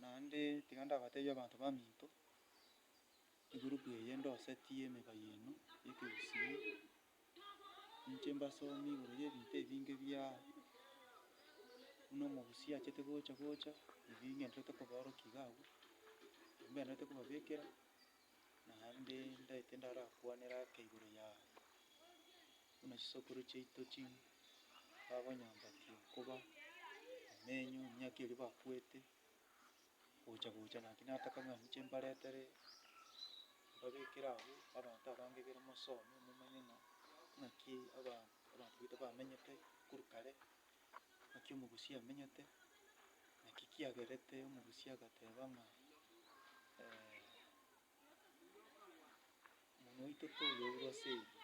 Naende tiga ndabateebie abanto baminto, egurupu eye ndosetie emeka yaino y'ekegusii, ninche mbasomie igoro y'ebinto ebinge bia buna omogusii achete gocha gocha, ebi ngenderete kobaorokia iga abwo, ebi mbenderete kobabekera. naende ndaete ndarakwanere ake igoro yaye, buna chisokoro chiaito chire bakonyambatia okoba emenyo emiaka eria bakwete, gocha gocha naki nataka ng'a inche mbaretere mbabekere abwo abanto abange bire mosome momanye ng'a ng'aki abanto abanto baito bamenyete korwa kare, Naki omogusia amenyete? Naki kiagerete omogusia agateba ng'a Omonwa oito toyoirwe ase ebi,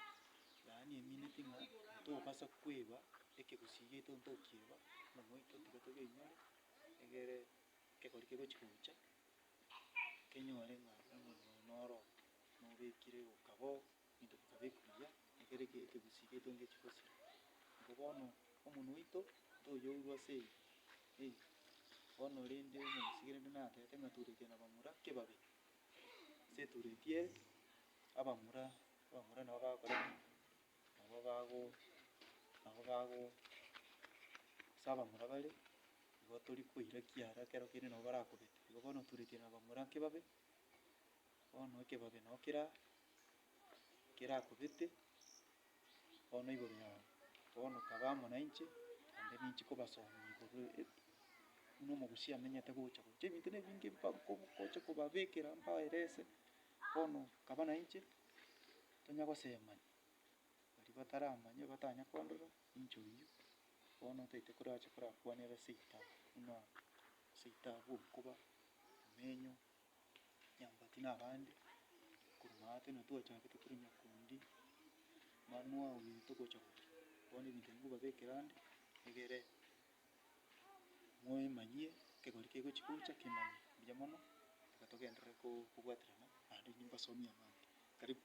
yaani emineti ng'a tobasa kweba ekegusii giaito tokieba, omonwa oito tiga toyoinyore, egere ekegori kegochi gocha, kenyore ng'a omonwa oyo noro, nobekire okaba oo. Ebinto bikaba ebiya, ekero ekegusii getongire chigosii. Nabo bono omonwe oito toyourwa ase eye, eye. Bono rende omogusii rende natete ng'a turetie na bamura kebabe, gose eturetie abamura, abamura nabo bagokora ki? Nabo bago, nabo bago ase abamura bare, nigo tori koirakia ara ekero kende nabo barakobete. Igo bono turetie na bamura kebabe. Bono ekebabe nabo kera kerakobete bono igoro yabo, bono kaba amo nainche, naende ninche kobasomia igoro e- buna omogusia amenyete gocha gocha ebinto na ebinge mba nkobu nkoche kobabekera mbaerese, bono kaba nainche, tonya gosemania, baria bataramanya batanya kondora, ninche oyio, bono ntaito korache korakwane ere seito buna seito abwo nkoba, emenyo. nyambati na abande, korwa maate na twachakete tore nyakundi, manu ao nere togocha gocha, bono ebinto ebi nkobabekera ande, egere moemanyie ekegori kegochi gocha kemanye buya mono, ekero togenderere ko- kobwaterana naende mbasomie abande. Karibu.